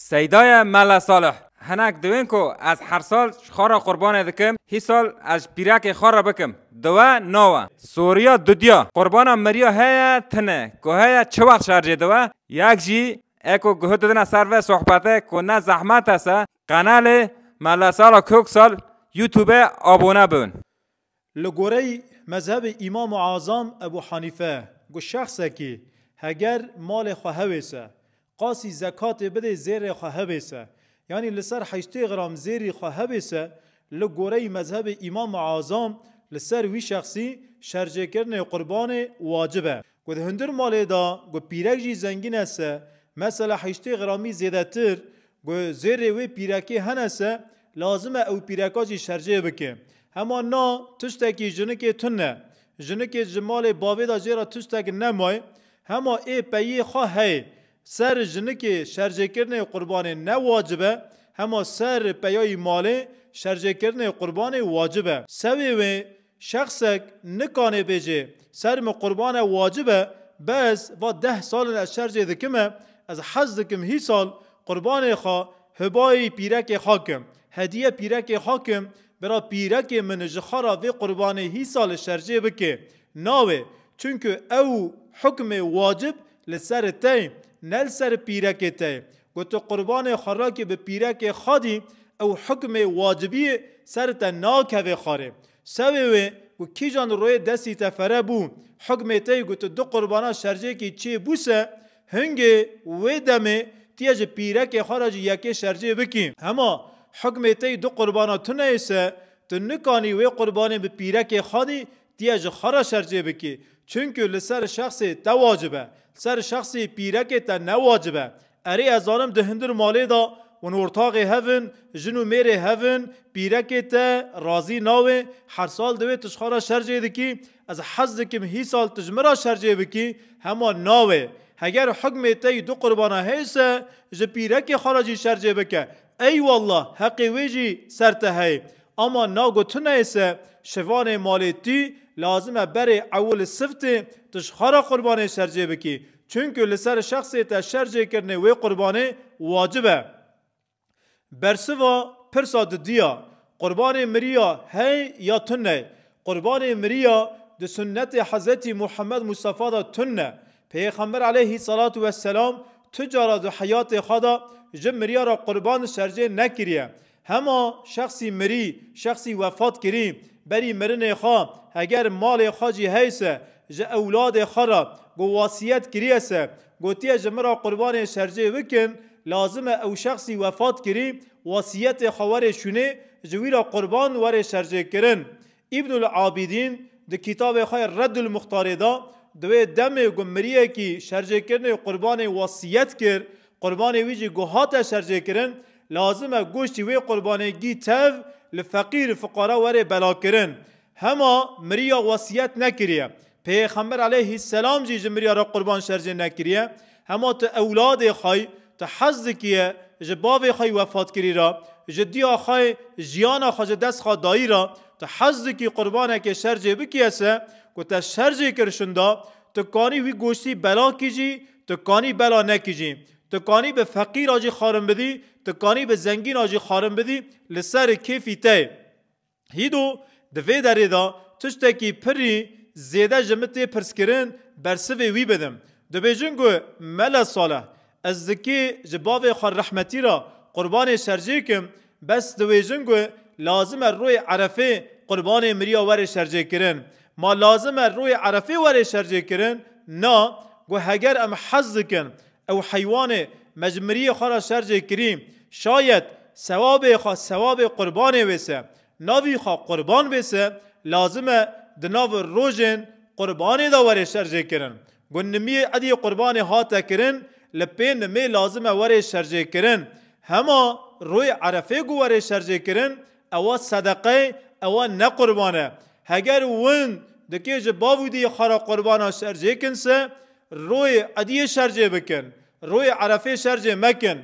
Seydaye Mela Salih, Hinek diwên ku ez her sal ji xwe re qurbanê dikim, hî sal ez ji pîrekê xwe re bikim, diwe nawe. Soriya Dudya, Qurbana meriya heye tune ku heye çi wext şerjê diwe, yek jî eko guh didine ser vê sohbetê ku ne zehmet e se qenelê Mela Salih Köksal Youtube abone bin. Li gorey mezhebê Îmam Azam Ebû Hanîfe ku şexsekî heger malê xwe hewêse, qasî zekatê bidê zêrê xwe hewêse, yanî li ser heştê gram zêrî xwe hewêse, li gorey mezhebê Îmam Azam li ser wî şexsî şerjêkirinê qurbanê wacib e. Ku di hundir malê de ku pîrek jî zengîn e se mesela heştê gramî zêdetir ku zêrê wê pîrekê hene se lazim e ew pîreka jî şercê bike. Hema na tiştekî jinikê tun e. Jinikê ji malê bavê de jê re tiştek nemaye hema ê peyiyê xwe heye. Ser jinikê şercêkirinê qurbanê ne wacib e hema ser peyayî malê şercêkirinê qurbanê wacib e. Sewê wê Şexsek nikanê bêjê ser min qurban e wacib e, bes va deh sal in ez şer jê dikim e, ez hez dikim hî sal qurbanê xwe hibayî pîrekê xwe kim, hediye pîrekê xwe kim, bira pîrekê min ji xwe ra vê qurbanê hî sal e şer jê bikê. Nawê, çunku ew hukmê wacib li ser te ye, ne li ser pîrekê te ye. Ku tu qurbanê xwe rakî bi pîrekê xwedî, ew hukmê wacibiyê ser te nakeve xwarê. Sewê wê ku kîjan royê destî te fere bû, hukmê te yê ku tu du qurbana şercêkî çê bû se, hingê wê demê tu yê ji pîrekê xwe re jî yekê şercê bikî. Hema hukmê te yê du qurbana tune yê se, tu nikanî wê qurbanê bi pîrekê xwedî Ti yê ji xwe re şer çê bikî, çunku li ser şexsê te wacib e, li ser şexsê pîrekê te ne wacib e. Erê ez zanim di hundir malê de winortaxê hev in, jin û mêrê hev in, pîrekê te razî nawe, her sal di wê tişxa re şer çê dikî, ez hez dikim hî sal ti ji min re şer çê bikî, hema nawe. Heger hukmê te yî du qurbana hês e, ji pîrekê xwe re jî şer çê bike. Ey wallah heqê wê jî ser te heye. Ama na gotina êse şivanê malê tü lazim e berê ew li siftê tişxara qurbanê şercê bikî. Çunku li ser şexsê te şercê kirinê wê qurbanê wacib e. Bersiva pirsa di diya, qurbanê miriya hey ya tuney? Qurbanê miriya di sunnetê Hezretî Muhammed Mustafa de tun e. Peyxember aleyhî selatu wesselam tu cara di heyatê xwe de ji miriyara qurban şercê nekiriye. Hema şexsî mirî, şexsî wefat kirî, berî mirinê xwe heger malê xwe jî hey se, ji ewladê xwe re ku wasiyet kiriye se, gotiye ji min re qurbanê şercê bikin, lazim e ew şexsî wefat kirî wasiyetê xwe were şûnê, ji wî re qurban were şercê kirin. Îbnul Abîdîn di kîtabê xwe Reddul Muxtarê de di wê demê ku miriyekî şercêkirinê qurbanê wesîyet kir, qurbanê wî jî ku hate şercêkirin, lazim e goştî wê qurbanê gî tev li feqîr, fuqara, were belakirin. Hema miriya wesîyet nekiriye. Pêxember aleyhî selam jî ji mirya re qurban şerjê nekiriye. Hema tu ewladê xwe yî, tu hez dikiye ji bavê xwe yî wefatkirî re, ji diya xwe yê jiyana xwe ji dest xwe dayî re, tu hez dikî qurbanekê şerjê bikiye se ku te şerjê kir şinda, tu kanî wî goştî bela kîjî, tu kanî bela nekîjî, tu kanî bi feqîra jî xarin bidî, tu kanî bi zengîna jî xarin bidî, li ser kêfî te ye. Hîdo di vê derê de tiştekî pirrî zêde ji min tê pirskirin bersivê wî bidim. Dibêjin ku Mele Saleh ez zikê ji bavê xwe rehmetî re qurbanê şercê kim bes diwêjin ku lazim e royê Erefê qurbanê miriya were şercê kirin. Ma lazim e royê Erefê were şercê kirin? Na, ku heger em hez dikin Ew heywanê me ji miriyê xwe re şer jê kirî, şayet sewabê xwe sewabê qurbanê wê se, navî xwe qurban bê se, lazim e di nav rojên qurbanê de were şer jê kirin. Ku nimiyê edî qurbanê hate kirin, li pê nimê lazim e were şer jê kirin. Hema rojê erefê ku were şer jê kirin, ewa sedeqe ye, ewa ne qurban e. Heger win dikê ji bav û diyê xwe re qurbana şer jê kin se, Royê ediyê şercê bikin. Royê erefê şercê mekin.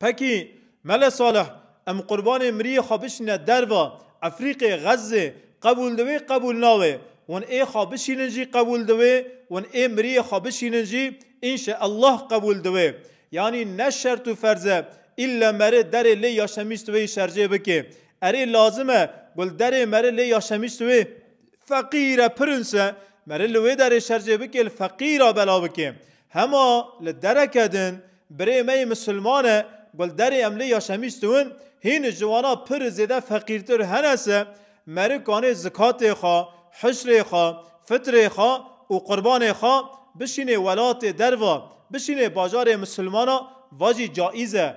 Pekî, Mele Salih, em qurbanê miriyê xwe bişîne derva, Efrîqê, Xezzê, qebûl diwê qebûl nawê, wan ê xwe bişînin jî qebûl diwê, wan ê miriyê xwe bişînin jî înşe Ellah qebûl diwê. Yanî ne şert û ferz e îlle meri derê lê ya Şemîstweyî şercê bikê. Erê lazim e gul derê meri lê ya Şemîstwê Feqîr e pirins e, merê li wê derê şercê bikê li feqîr a bela bikê. Hema li dereke din birê me yê misilman e ku li derê em lê yaşemîstûn, hîn ji wana pir zêde feqîrtir hene se, meri kanê zikatê xwe, hişrê xwe, fitrê xwe û qurbanê xwe bişînê welatê derve, bişînê bajarê misilmana vajî caiz e.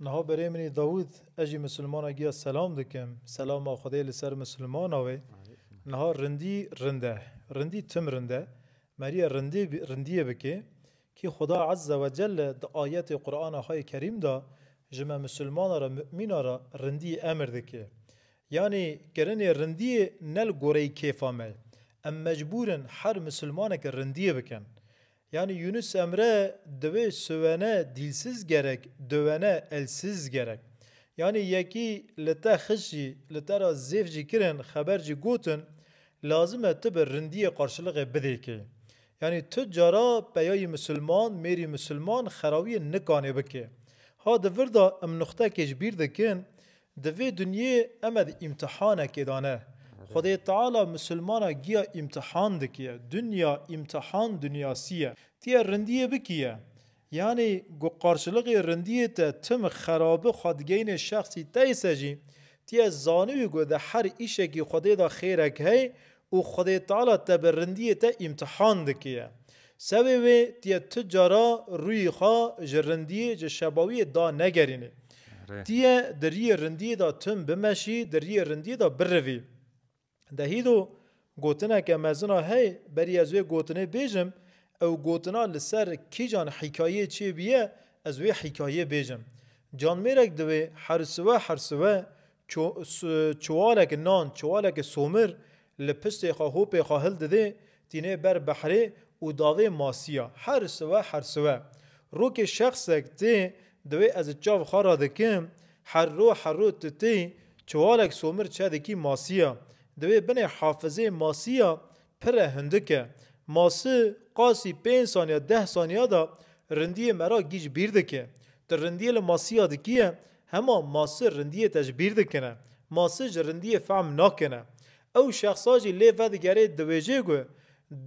Niha berê min î Dawûd, ez jî misilmana giya selam dikim, selama Xwedê li ser misilmana wê. Niha rindî rind e, rindî tim rind e. Merîya rindî rindîyê bikê. Kî Xweda Ezze we Celle di ayetê Qur'ana xwe yê Kerîm de ji me misilmana re, mu'mîna re rindî emir dikê. Yanî kirinê rindîyê ne li goreyî kêfa me ye. Em mecbûr in her misilmaneke rindîyê bikin. Yanî Yunus Emre diwê siwene dîlsiz gerek, diwene elsiz gerek. Yanî yekî li te xişt jî, li te re zêf jî kirin, xeber jî gotin, lazim e tu bi rindiyê qarşiliqê bidê kê. Yanî tu cara peyayî misilman, mêrî misilman xerawiyên nikanê bikê. Ha di vir de em nuxtekê ji bîr dikin, Di vê dinyê eme di îmtihanekê da ne. Xwedê Teala misilmana giya îmtihan dikiye. Dinya îmtihan dinyasî ye. Ti ye rindiyê bikiye. Yanî ku qarşiliqê rindiyê te tim xerabi xwe digeyne şexsî teyse jî, ti ye zanibî ku di her îşekî Xwedê da xêrek hey Û Xwedê Teala te bi rindiyê te îmtihan dikiye. Sewê wê tiye tu cara rûyê xwe ji rindiyê, ji şebawiyê da negerînî. Tiye di riyê rindiyê de tim bimeşî, di riyê rindiyê de birivî. Dehî do gotineke mezina heye, berî ez wê gotinê bêjim, ew gotina li ser kîjan hîkayeyê çêbîye, ez wê hîkayeyê bêjim. Canmêrek diwê her siwe her siwe Çiwalek nan, çiwalek somir li piştê xwe, hopê xwe hildidê, tînê ber behrê û davê masiya. Her siwe her siwe. Rokê şexsek tê divê ez ji çav xwe re dikim, her ro her ro tu tê, çiwalek somir çedikî masiya. Divê binê hafizê masiya Pire hindik e. Masi qasî pênc saniya deh saniya de rindiyê me ra gîj bîr dike. Tu rindiyê li masiya dikî ye, hema masi rindiyê te ji bîr dikine. Masi ji rindiyê fehm nakine. Ew şexsa jî lê vedigerê diwêjê gu,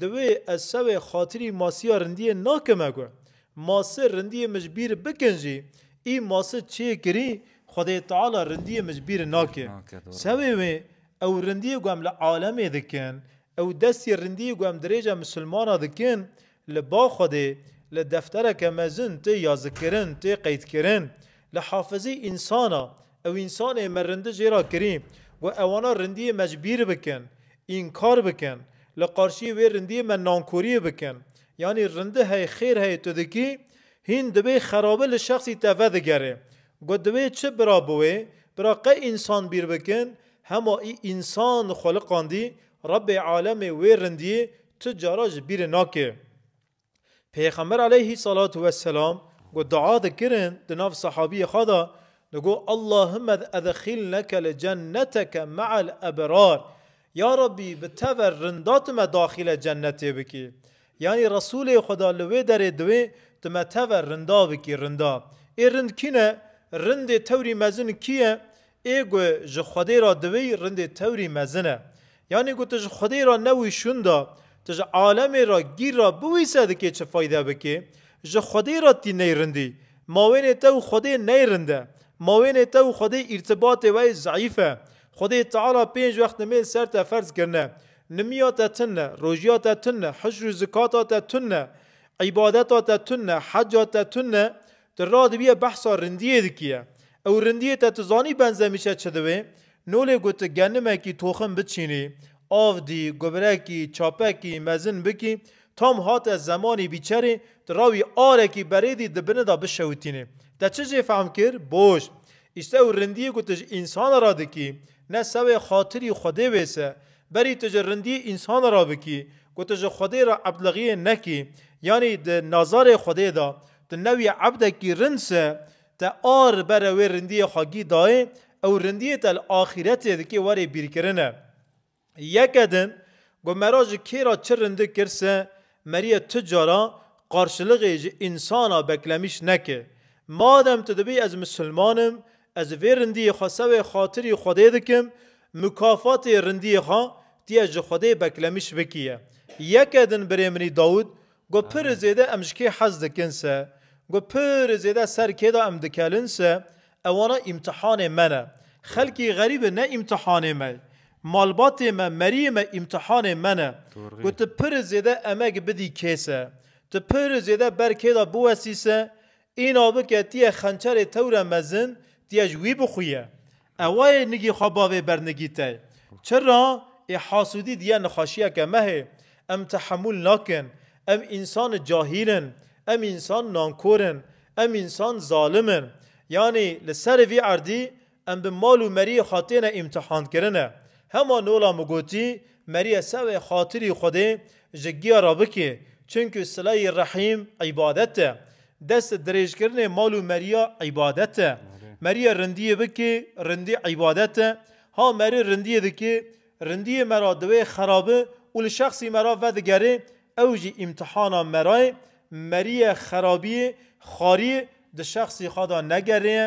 Diwê ez sewê xatirî masiya rindiyê nakime gu. Masi rindiyê min ji bîr bikin jî, î masi çê kirî Xwedê Teala rindiyê min ji bîr nake. Sewê wê Ew rindiyê ku em li alemê dikin, ew destê rindiyê ku em dirêja misilmana dikin, li ba Xwedê, li deftereke mezin tê yazikkirin, tê qeydkirin. Li hafizî însana, ew însanê me rindi jê ra kirî, ku ewana rindiyê me ji bîr bikin, înkar bikin, li qarşiyê wê rindiyê me nankoriyê bikin. Yanî rindi hey xêr heye tu dikî, hîn dibê xerabi li şexsî te vedigere Got divê çi bira bi wê bira qey însan bîr bikin, hema î însan xweliqandî, Rebê alemê wê rindiyê tu cara ji bîrê nake. Pêxember aleyhî selatû we selam ku dua dikirin di nav sehabiyê xwe de digot Allahümed edxilneke li cenneteke me'el ebrar, Ya Rabbî bi teve rinda tu me daxîle cennetê bikî. Yanî Resûlê Xweda li wê derê diwê tu me teve rinda bikî rinda. Ê rind kî ne? Rindê tewrî mezin kî ye? Ê gu ji Xwedê ra diwî rindê tewrî mezin e. Yanî gu tu ji Xwedê ra newî şûn da, tu ji alemê ra gîr ra biwîse dikê çi fayde bikê? Ji Xwedê ra tî ney rindî. Mawênê te û Xwedê ney rind e. Mawênê te û Xwedê îrtibatê wey zeyîf e. Xwedê Teala pênc wext nimêl ser te ferz kirine. Nimiya te tunne, rojiya te tunne, hicr û zikata te tunne, îbadeta te tunne, heca te tunne, tu radibiye behsa rindiyê dikiye. Ew rindiyê te tu zanî benzemîşe çi diwê? No lê ku tu genimekî toxim biçînî, av dî, gubrekî, çapekî, mezin bikî, tam hate zemanî bîçerê, tu rawî arekî berêdî di bini de bişewitînê. Te çi jê fehm kir? Boş. Îste û rindiyê ku tu ji însanan re dikî, ne sewê xatirî Xwedê wês e. Berî tu ji rindiyê însanan re bikî, ku tu ji Xwedê re ebdlexiyê nekî, yanî di nazarê Xwedê de tu ne wî ebdekî rind se, te a li ber re wê rindiyê xwe gî dayê, ew rindiyê te li axîretê dikê werê bîrkirine. Yeke din, got me ra ji kê ra çi rindik kir se meriye tu cara qarşiliqê ji însana beklemîş neke. Madem tu dibî ez misilman im, ez vê rindiyê xwe sewê xatirî Xwedê dikim, mukafatê rindiyê xwe tu yê ji Xwedê beklemîş bikî ye. Yeke din birê minî Dawûd Got pirê zêde em ji kê hez dikin se, got pirê zêde ser kê de em dikelin se, ewana îmtihanê me ne. Xelkê xerîbi ne îmtihanê me, malbatê me, meriyê me îmtihanê me ne. Got tu pirê zêde emek bidî kê se, tu pirê zêde ber kê de biwestî se, Îna bi ke tîye xençerê tewre mezin, tîye ji wî bixuye. Ewa yê nigî xwe bavê bernigî tey. Çira? Ê hasûdî dîye nixaşîyeke mehê. Em tehemûl nakin. Em însan cahîl in. Em însan nankor in. Em însan zalim in. Yanî li serê vî erdî Em bi mal û meriyê xwe têne îmtîhankirine. Hema nola min gotî, Meriye sewê xatirî Xwedê ji giya re bikê, çunku silayî rehîm îbadet e. Dest dirêjkirinê mal û meriya îbadet e. Meriye rindiyê bikê, rindî îbadet e. Ha meri rindiyê dikê, rindiyê me ra diwê xerabi û li şexsî me ra vedigerê, ew jî îmtîhana me ra ye. Meriye xerabiyê, xariyê di şexsî xwe de negerê ye.